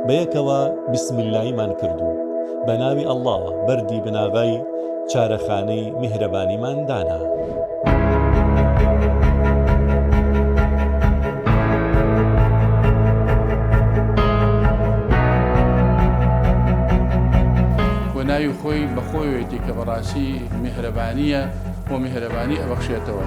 بەیەکەوە بسم اللەیمان کرد و بەناوی ئەڵڵاوە بەردی بناغەی چارەخانەی میهرەبانیمان دانا. ناوی خۆی بەخۆیەتی کە بەڕاستی میهرەبانییە بۆ میهرەبانی ئەبەخشێتەوە.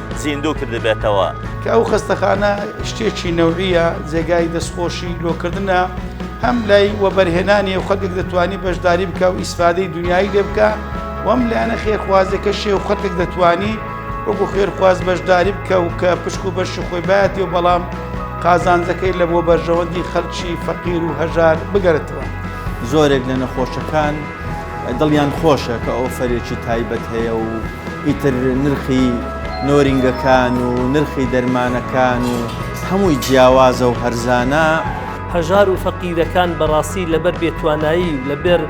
زیندوو کردبێتەوە. کە ئەو خەستەخانە شتێکی نەوعیە جێگای دەستخۆشی لۆکردنە هەم لای وەبەرهێنانی و خەتێک دەتوانی بەشداری بکە و ئیسفادەی دنیایی لێ بکە وەم لایەنە خێرخوازەکە شێ و خەتێک دەتوانی وەکو خێرخواز بەشداری بکە و کە پشک و بەشی خۆی باەتی و بەڵام قازانجەکەی لە بۆ بەرژەوەندی خەلکی فەقیر و هەژار بگەرتەوە. زۆرێک لە نەخۆشەکان دڵیان خۆشە کە ئۆفەرێکی تایبەت هەیە و ئیتر نرخی نۆرینگەکان و نرخی دەرمانەکان و هەمووی جیاوازە و هەرزانە. هەژار و فەقیرەکان بەڕاستی لەبەر بێتوانایی و لەبەر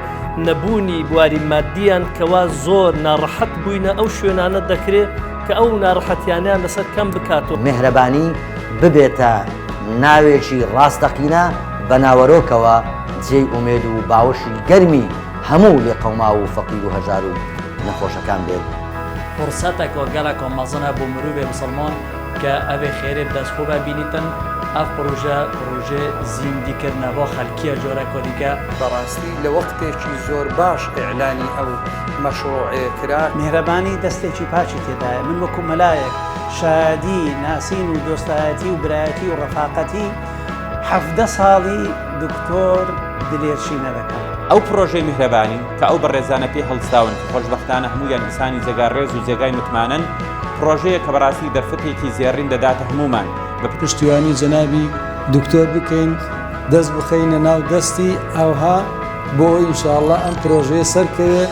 نەبوونی بواری ماددییان کەوا زۆر ناڕەحەت بووینە ئەو شوێنانە دەکرێ کە ئەو ناڕەحەتیانەیان لەسەر کەم بکات و. میهرەبانی ببێتە ناوێکی ڕاستەقینە بە ناوەرۆکەوە. جێی ئومێد و باوەشی گەرمی هەموو لێقەوماو و فەقیر و هەژار و نەخۆشەکان بێت. فرسەتەک و گەلەک و مەزن هە بۆ مروڤێ مسڵمان کە ئەێ خێرێ بە دەس خوبە بینیتن، ئەڤ پروژە پروژەێ زیندی کردنە ڤۆ خەلکیە جۆرەک و دیکە. بە راستی لە وەقتێکی زۆر باش ئیعلانی ئەو مەشڕووعەێ کرا. میهرەبانی دەستێکی پاکی تێدایە. من وەکو مەلایەک شایەدی ناسین و دۆستایەتی و برایەتی و رەفاقەتی. حەڤدە ساڵی دکتۆر دلێر شینە دەکەم. ئەو پڕۆژەی میهرەبانی کە ئەو بەڕێزانە پێی هەڵستاون کە خۆشبەختانە هەموویان ئینسانی جێگا ڕێز و جێگای متمانەن، پڕۆژەیە کە بەڕاستی دەرفەتێکی زێڕین دەداتە هەموومان بە پشتیوانی جەنابی دکتۆر بکەین، دەست بخەینە ناو دەستی ئەوها بۆ ئەوەی ان شاء اللە ئەم پڕۆژەیە سەرکەوێت.